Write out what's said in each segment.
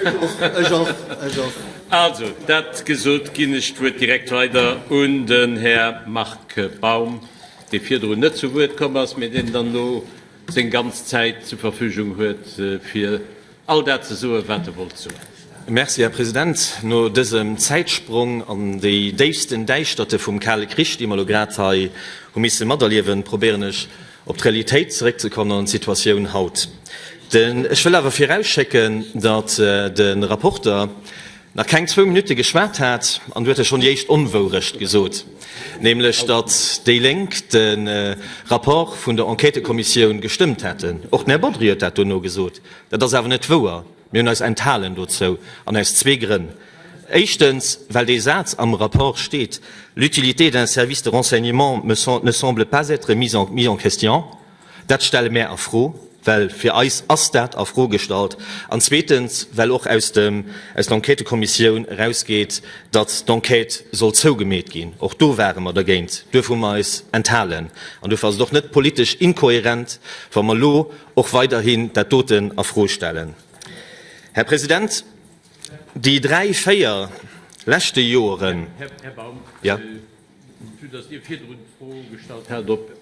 Ech och, ech och. Also, dat gesot, ginn ech d'Wuert direkt weider un den Här Marc Baum, dee virdrun net zu Wuert komm ass, mee deen dann elo seng ganz Zäit zur Verfügung huet, fir all dat ze soen, wat e wollt soen. Merci, Här President. No dësem Zäitsprong an déi déifsten Däischterte vum Kale Krich, déi mer elo grad hei hu misse materliewen, probéieren ech Op d'Realitéit zeréckzekommen an d'Situatioun haut. Ech wëll awer virausschécken, datt de Rapporter nach keng zwou Minutte geschwat hat an do huet e schonn déi éischt Onwourecht gesot, nämlech datt déi Lénk de Rapport vun der Enquêtëkommissioun gestëmmt hätten. Och den Här Bodry huet dat dono gesot. Dat ass awer net wouer. Mir hunn eis enthalen dozou an aus zwee Grënn. Éischtens, well dee Saz am Rapport steet, L'utilité d'un service de renseignement me sem ne semble pas être mise en mise en question. Dat stelle mär a Fro, well fir eis ass dat a Fro gestallt. An zweetens, well och aus dem, aus der Enquêtëkommissioun erausgeet, datt d'Enquête soll zougemeet ginn. Och do ware mer dergéint. Duerfir hu mer eis enthalen. An duerfir ass et och net politesch inkohärent, wa mer elo och weiderhin dat doten a Fro stellen. Här President, déi dräi, véier leschte Joren, Här Baum, vu datt Dir virdrun d'Fro gestallt hat, ob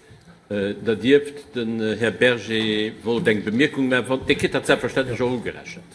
Der dierft, den Här Berger wollt eng Bemierkung maachen. Dir kritt dat selbstverständlech och ugerechent.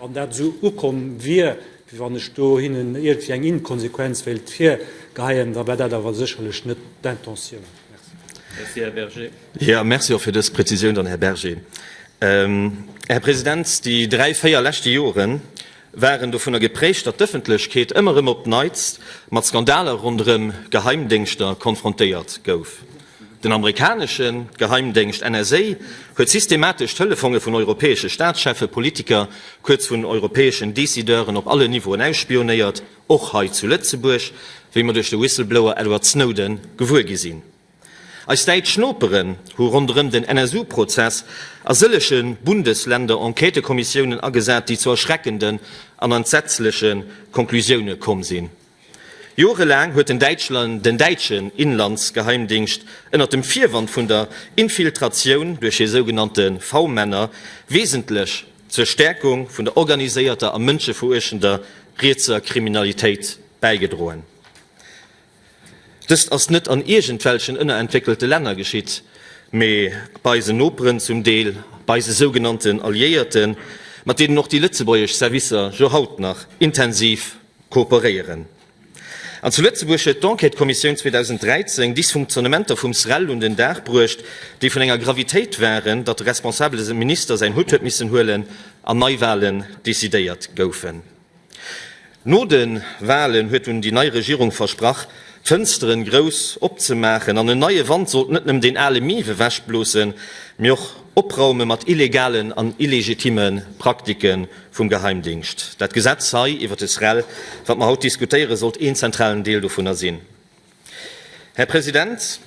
Wann dat esou ukomm wier, wéi wann ech do hinnen iergendwéi eng Inkonsequenz wéilt virgeheien, da war dat awer sécherlech net d'Intentioun. Merci. Jo, merci och fir dës Prezisioun dann, Här Berger. Här President, déi dräi, véier leschte Jore waren dovunner geprägt, datt d'Ëffentlechkeet ëmmer erëm op d'Neits mat Skandaler ronderëm Geheimdéngschter konfrontéiert gouf. Den amerikanesche Geheimdéngscht NSA huet systematesch d'Telefonge vun europäesche Staatscheffe, Politiker, kuerz vun europäeschen Decideuren op allen Niveauen ausspionéiert, och hei zu Lëtzebuerg, wéi mer duerch de Whistleblower Edward Snowden gewuer gi sinn. Eis däitsch Noperen hu ronderëm den NSU-Prozess a sëllege Bundesländer Enquêtekommissiounen agesat, déi zu erschreckenden an entsetzleche Conclusioune komm sinn. Jorelaang huet den Däitschland den däitschen Inlandsgeheimdingscht ënnert dem Virwand vun der Infiltratioun duerch hir sougenannte V-Männer wesentlech zur Stäerkung vun der organiséierter a mënscheveruechtender rietser Kriminalitéit bäigedroen. Dëst ass net an iergendwelchen ënnerentwéckelte Länner geschitt, mee bei eisen Noperen, zum Deel bei eise sougenannten Alliéierten, mat deenen och déi lëtzebuergesch Servicer jo haut nach intensiv kooperéieren. An zu Lëtzebuerg huet d'Enquête-Kommissioun 2013 Dysfunktionnementer vum SREL un den Dag bruecht, déi vun enger Gravitéit waren, datt de responsabele Minister säin Hutt huet missen huelen an Neiwalen decidéiert goufen. No de Walen huet dunn déi nei Regierung versprach, d'Fënsteren grouss opzemaachen an en neie Wand sollt net nëmmen deen ale Mief ewechbloossen, mee och opraume mat illegalen an illegitime Praktiken Vum Geheimdingscht. Dat Gesetz hei iwwert de SREL, wat mer haut diskutéieren, sollt een zentralen Deel dovunner sinn. Här President,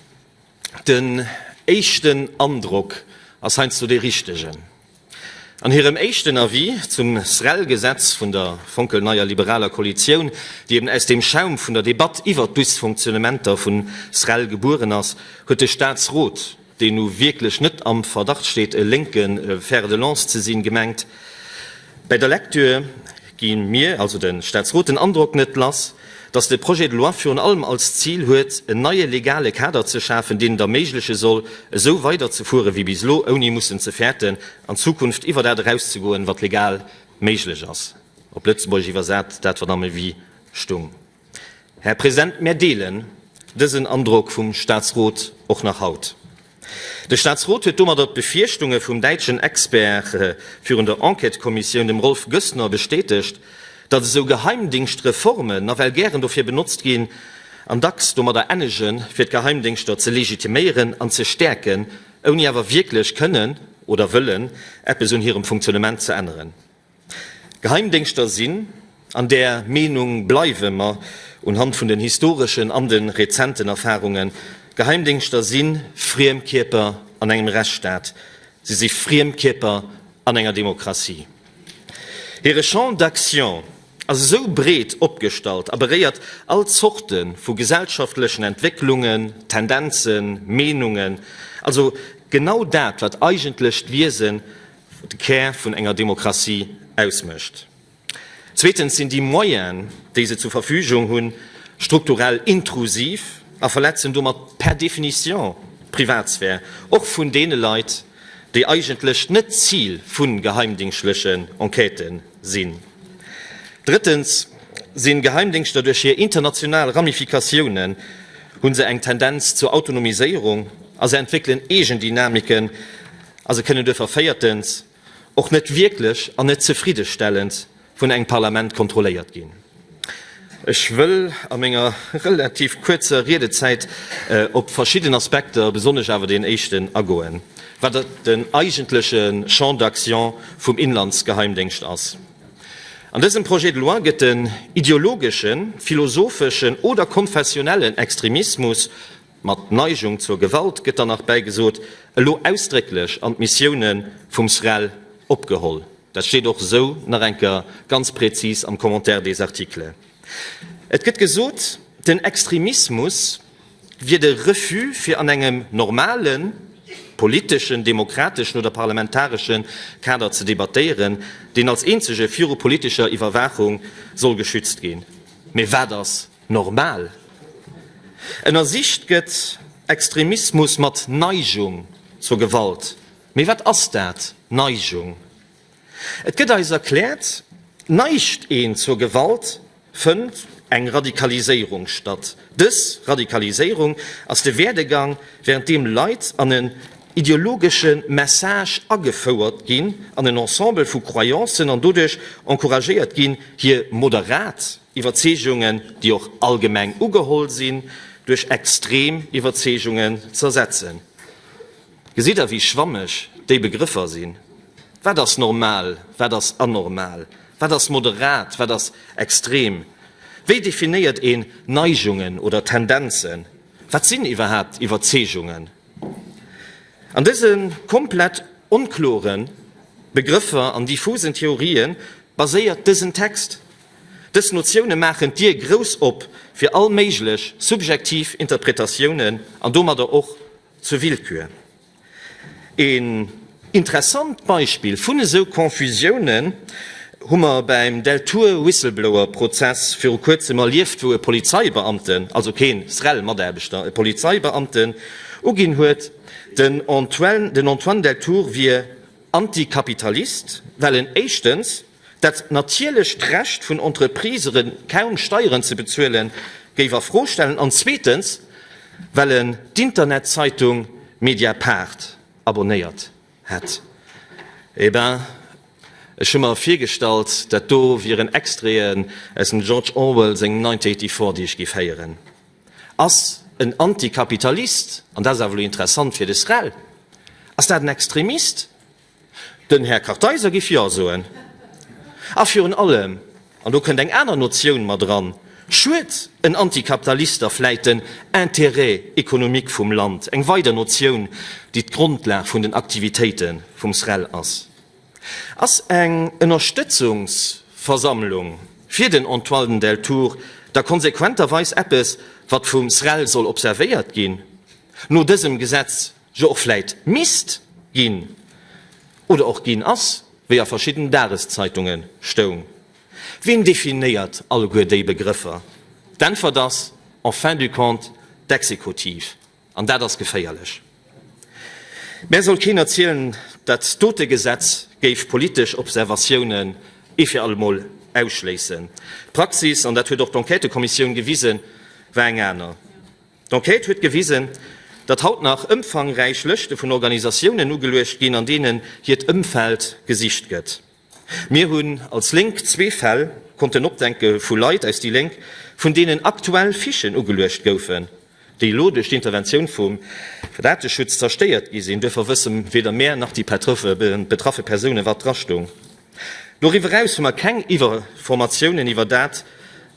den éischten Androck ass heiansdo dee richtegen. An hirem éischten Avis zum SREL-Gesetz vun der fonkelneier liberaler Koalitioun, déi eben aus dem Schaum vun der Debatt iwwert d'Dysfonctionnementer vun SREL gebueren ass, huet de Statsrot, deen nu wierklech net am Verdacht steet, e lénke Fer de lance ze sinn, gemengt. Bäi der Lektür gi mir, also de Statsrot, den Androck net lass, datt de Projet de loi virun allem als Zil huet, en neie legale Kader ze schafen, deen et erméigleche soll, esou weiderzefuere wéi bis elo, ouni mussen ze fäerten, an Zukunft iwwer dat erauszegoen, wat legal méiglech ass, op Lëtzebuergesch iwwersat, dat, wat am Avis stoung. Här President, mär deelen dësen Androck vum Statsrot och nach haut. De Statsrot huet domadder d'Befierchtunge vum däitschen Expert virun der Enquêtëkommissioun, dem Rolf Goessner, bestätegt, datt esou Geheimdingschtreformen nawell gären dofir benotzt ginn an dacks domadder ennegen, fir d'Geheimdingschter ze legitiméieren an ze stäerken, ouni awer wierklech kënnen oder wëllen eppes un hirem Funktionnement ze änneren. Geheimdéngschter sinn, an där Meenung bleiwe mer unhand vun den historeschen an de rezenten Erfarungen, Geheimdéngschter si friem Kierper an engem Rechtsstaat, si si friem Kierper an enger Demokratie. Hire Champ d'action ass esou breet opgestallt a beréiert all Zorte vu gesellschaftlechen Entwécklungen, Tendenzen, Meenungen, also genau dat, wat eigentlech d'Wiese de Kär vun enger Demokratie ausmécht. Zweetens sinn déi Moyene, déi se zur Verfügung hunn, strukturell intrusiv a verletzen domat per définition d'Privatsphär, och vun deene Leit, déi eigentlech net d'Zil vu geheimdingschlechen Enquêten sinn. Drëttens sinn d'Geheimdéngschter duerch hir international Ramifikatiounen, hunn se eng Tendenz zur Autonomiséierung a se entwéckelen Eegendynamiken, A se kënnen duerfir véiertens och net wierklech an net zefriddestellend vun engem Parlament kontrolléiert ginn. Ech wëll a menger relativ kuerzer Riedezäit op verschidden Aspekter, besonnesch awer deen éischten, agoen, wat den eigentleche Champ d'action vum Inlandsgeheimdéngscht ass. An dësem Projet de loi gëtt den ideologeschen, philosopheschen oder konfessionellen Extremismus Mat Neigung zur Gewalt gëtt dann nach bäigesot, elo ausdrécklech an d'Missioune vum SREL opgeholl. Dat steet och esou nach eng Kéier ganz prezis am Commentaire des articles. Et gëtt gesot, den Extremismus wier de Refus fir an engem normale politeschen, demokrateschen oder parlamentaresche Kader ze debattéieren, deen als eenzege viru politescher Iwwerwaachung soll geschützt ginn. Mee wat ass Normal ënnersicht gëtt, Extremismus mat Neigung zur Gewalt. Mee wat ass dat, Neigung? Et gëtt eis erkläert, Neigt een zur Gewalt, fënnt eng Radikaliséierung statt. Dës Radikaliséierung ass de Werdegang, während deem Leit an en ideologesche Message agefouert ginn, an en Ensemble vu Croyancen an doduerch encouragéiert ginn, hir moderat, Iwwerzeegungen, déi och allgemeng ugeholl sinn, duerch extrem Iwwerzeegungen z'ersetzen. Gesitt Der, wéi schwammeg déi Begrëffer sinn? Wat ass normal, wat ass anormal, wat ass moderat, wat ass extrem? Wéi definéiert een Neigungen oder Tendenzen? Wat sinn iwwerhaapt Iwwerzeegungen? An dëse komplett onklore Begrëffer an diffusen Theorië baséiert dësen Text. Dës Notioune maachen d'Dier grouss op fir all méiglech subjektiv Interpretatiounen an domadder och zur Willkür. Een interessant Beispill vun esou Confusiounen hu mer beim Deltour-Whistleblower-Prozess viru kuerzem erlieft, wou e Polizeibeamten, also keen SREL-Mataarbechter, e Polizeibeamten uginn huet, den Antoine Deltour wier Antikapitalist, well en éischtens, Dat natierlecht Recht vun Entreprisere kaum Steieren ze bezuelen, géif a Fro stellen, an zweetens, well en d'Internetzeitung Mediapart abonnéiert hätt. Eh ben, ech hu mer virgestallt, dat do wieren Extraiten aus dem George Orwell sengem 1984, déi ech géif héieren. Ass en Antikapitalist, an dat ass awer elo interessant fir de SREL, ass dat en Extremist? Den Här Kartheiser giff Jo soen. A virun allem, an do kënnt eng aner Notioun mat eran, schued en Antikapitalister vläit den Intérêt économique vum Land, eng weider Notioun, déi d'Grondlag vun den Aktivitéite vum SREL ass. Ass eng Ënnerstëtzungsversammlung fir den Antoine Deltour da konsequenterweis eppes, wat vum SREL soll observéiert ginn? No dësem Gesetz jo och vläit misst ginn oder och ginn ass, wéi a verschidden Dageszeitunge stoung. Ween definéiert alleguer déi Begrëffer? D'Äntwert ass en fin du compte d'Exekutiv, an dat ass geféierlech. Mär soll keen erzielen, dat dote Gesetz géif politesch Observatiounen ee fir allemol ausschléissen. D'Praxis, an dat huet och d'Enquêtëkommissioun gewisen, war eng aner. D'Enquête huet gewisen, datt haut nach ëmfangräich Lëschte vun Organisatiounen ugeluecht ginn, an deenen hiert Ëmfeld gesicht gëtt. Mir hunn als Lénk zwee Fäll konnten opdenke vu Leit aus déi Lénk, vun deenen aktuell Fichen ugeluecht goufen, déi elo duerch d'Interventioun vum Dateschutz zerstéiert gi sinn. Duerfir wësse weder mär nach déi betraffe Persoune wat dra stoung. Doriwwer eraus hu mer keng Iwwerformatiounen iwwer dat,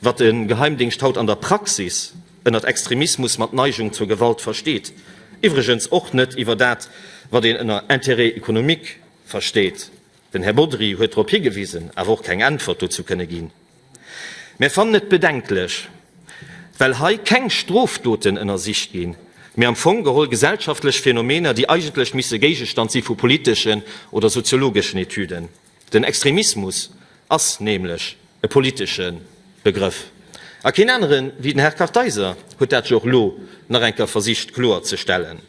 wat de Geheimdingscht haut an der Praxis ënnert Extremismus mat Neigung zur Gewalt versteet, iwwregens och net iwwer dat, wat een ënner Intérêt économique versteet. Den Här Bodry huet drop higewisen, awer och keng Äntwert dozou kënne ginn. Mär fannen et bedenklech, well hei keng Strofdoten ënnersicht ginn, mee am Fong geholl gesellschaftlech Phänomener, déi eigentlech misse Géigestand si vu politeschen oder soziologeschen Etüden. Den Extremismus ass nämlech e politesche Begrëff, a keen anere wéi den Här Kartheiser huet dat jo och elo nach eng Kéier versicht kloer ze stellen.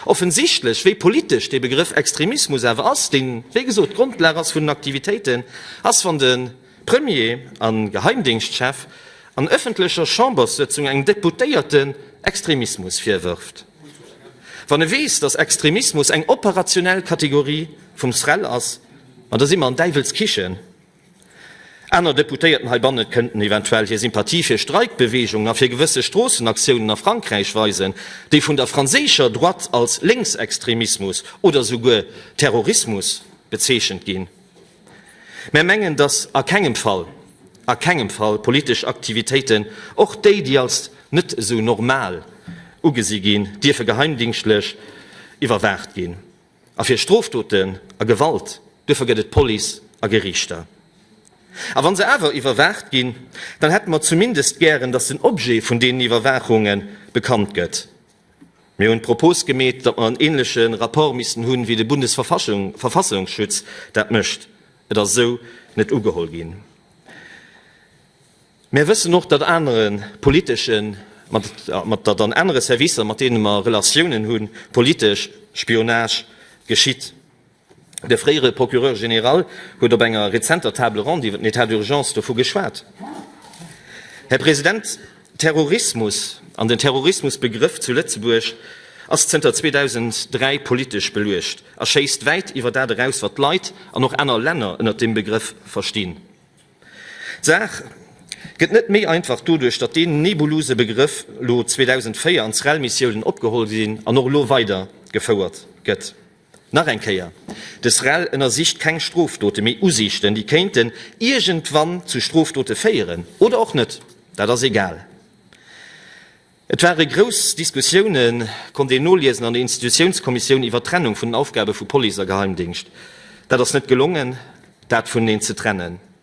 Offensichtlech, wéi politesch dee Begrëff Extremismus awer ass, dee wéi gesot d'Grondlag ass vun den Aktivitéiten, ass, wann de Premier a Geheimdéngschtchef an ëffentlecher Chamberssëtzung engem Deputéierten Extremismus virwërft, wann e weess, datt Extremismus eng operationell Kategorie vum SREL ass, ma da si mer an Däiwelskichen. Aner Deputéierten heibanne kënnten eventuell hir Sympathie fir Streikbewegungen a fir gewësse Stroossenaktiounen a Frankräich weisen, déi vun der franséischer Droite als Lénksextremismus oder souguer Terrorismus bezeechent ginn. Mär mengen, dass a kengem Fall, a kengem Fall politesch Aktivitéiten, och déi, déi als net esou normal ugesi ginn, dierfe geheimdingschtlech iwwerwaacht ginn. A fir Strofdoten a Gewalt, duerfir gëtt et Police a Geriichter. A wa se awer iwwerwaacht ginn, dann hätte mer zumindest gären, dass den Objet vun deenen Iwwerwaachunge bekannt gëtt. Mir hunn d'Propos gemeet, datt mer en ähnleche Rapport missten hunn, wéi de Bundesverfassungsschutz dat mécht. Et ass esou net ugeholl ginn. Mär wëssen och, datt anere politesche mat datt an anere Servicer, mat deene mer Relatiounen hunn, politesch Spionage geschitt. De fréiere Procureur général huet op enger rezenter Table ronde iwwer den État d'urgence dovu geschwat. Här President, Terrorismus an den Terrorismusbegrëff zu Lëtzebuerg ass zënter 2003 politesch beluecht a schéisst wäit iwwer dat eraus, wat d'Leit an och aner Länner ënnert deem Begrëff verstinn. D'Saach gëtt net méi einfach doduerch, datt deen nebulose Begrëff elo 2004 an d'SREL-Missiounen opgeholl ginn an och elo weidergefouert gëtt. Nach eng Kéier, De SREL ënnersicht keng Strofdote, mee Usiichten, déi kéinten iergendwann zu Strofdote féieren, oder och net, dat ass egal. Et ware grouss Diskussiounen, konnt een noliesen, an der Institutiounskommissioun iwwer d'Trennung vun den Aufgabe vu Police a Geheimdéngscht. Dat ass net gelongen, dat vun eneen ze trennen.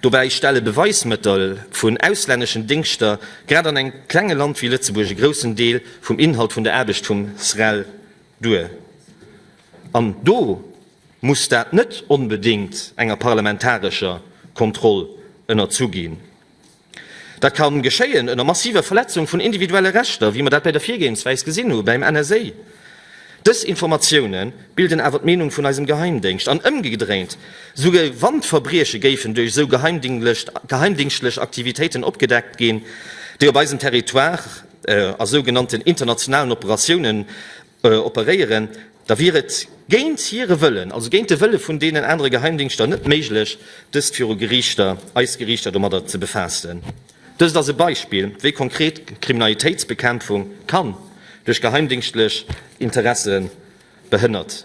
Dobäi stelle Beweismëttel vun auslänneschen Dingschter grad an engem klenge Land wéi Lëtzebuerg e groussen Deel vum Inhalt vun der Aarbecht vum SREL duer. An do muss dat net onbedéngt enger parlamentarescher Kontroll ënnerzu ginn. Dat ka geschéien ënner massiver Verletzung vun individuelle Rechter, wéi mer dat bei der Virgehensweis gesinn hu beim NSA. Dës Informatioune bilden awer d'Meenung vun eisem Geheimdéngscht. An ëmgedréint, souguer wann d'Verbrieche géifen duerch esou geheimdingstlech Aktivitéiten opgedeckt ginn, déi op eisem Territoire a sougenannten internationalen Operatiounen operéieren, da wier et géint hire Wëllen, also géint de Wëlle vun deenen anere Geheimdingschter, net méiglech, dëst viru Geriichter, eis Geriichter domadder ze befaassen. Dëst ass e Beispill, wéi konkret Kriminalitéitsbekämpfung kann duerch geheimdingstlech Interesse behënnert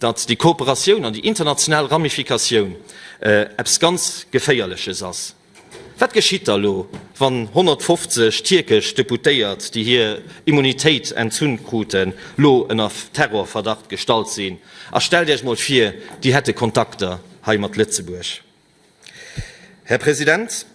datt déi Kooperatioun an déi international Ramifikatioun eppes ganz Geféierleches ass. Wat geschitt da elo, wann 150 tierkesch Deputéiert, déi hir Immunitéit entzunn kruten, elo ënner Terrorverdacht gestallt sinn? A stellt Iech emol vir, déi hätte Kontakter hei mat Lëtzebuerg. Här President,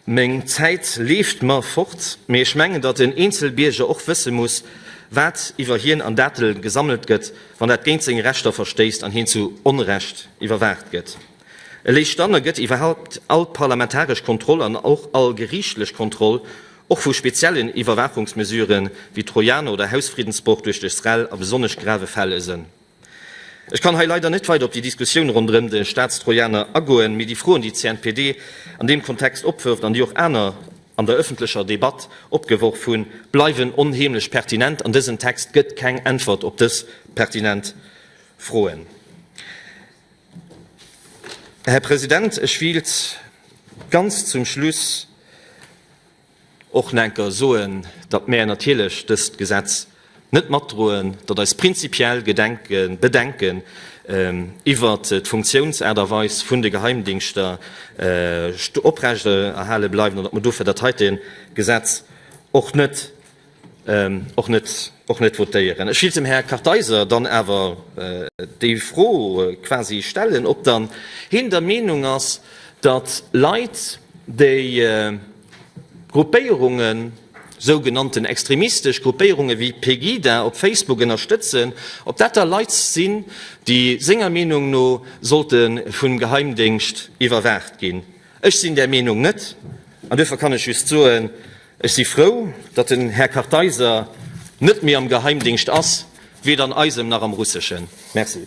meng Zäit leeft mer fort, mee ech mengen, datt en eenzel Bierger och wësse muss, wat iwwer hien an Datele gesammelt gëtt, wann dat géint seng Rechter verstéisst an hien zu Onrecht iwwerwaacht gëtt. Eréischt dann ergëtt iwwerhaupt all parlamentaresch Kontroll an och all geriichtlech Kontroll, och vu speziellen Iwwerwaachungsmesurë wéi Trojaner oder Hausfriddensbroch duerch de SREL, a besonnesch grave Fäll e Sënn. Ech kann hei leider net weider op déi Diskussioun ronderëm de Staatstrojaner agoen, mee déi Froen, déi d'CNPD an deem Kontext opwërft an déi och aner an der ëffentlecher Debatt opgeworf hunn, bleiwen onheemlech pertinent an dësen Text gëtt keng Äntwert op dës pertinent Froen. Här President, ech wéilt ganz zum Schluss, Och na enker soen, datt mäer natierlech dëst Gesetz net matdroen, datt eis prinzipiell Gedenken, Bedenken iwwert d'Funktiounsaart a weis vun de Geheimdingschter oprechterhale bleiwen an datt mer dofir dat heite Gesetz och net och net votéieren. Ech wëilt dem Här Kartheiser dann awer déi Fro quasi stellen, ob dann hien der Meenung ass, datt Leit, déi Gruppéierungen, sougenannten extremistesch Gruppéierungen, wéi Pegida op Facebook ënnerstëtzen, ob dat da Leit sinn, déi senger Meenung no sollte vum Geheimdéngscht iwwerwaacht ginn. Ech sinn där Meenung net, an duerfir kann ech just soen, Ech si frou, datt den Här Kartheiser net méi am Geheimdingscht ass, weder an eisem nach am russeschen. Merci.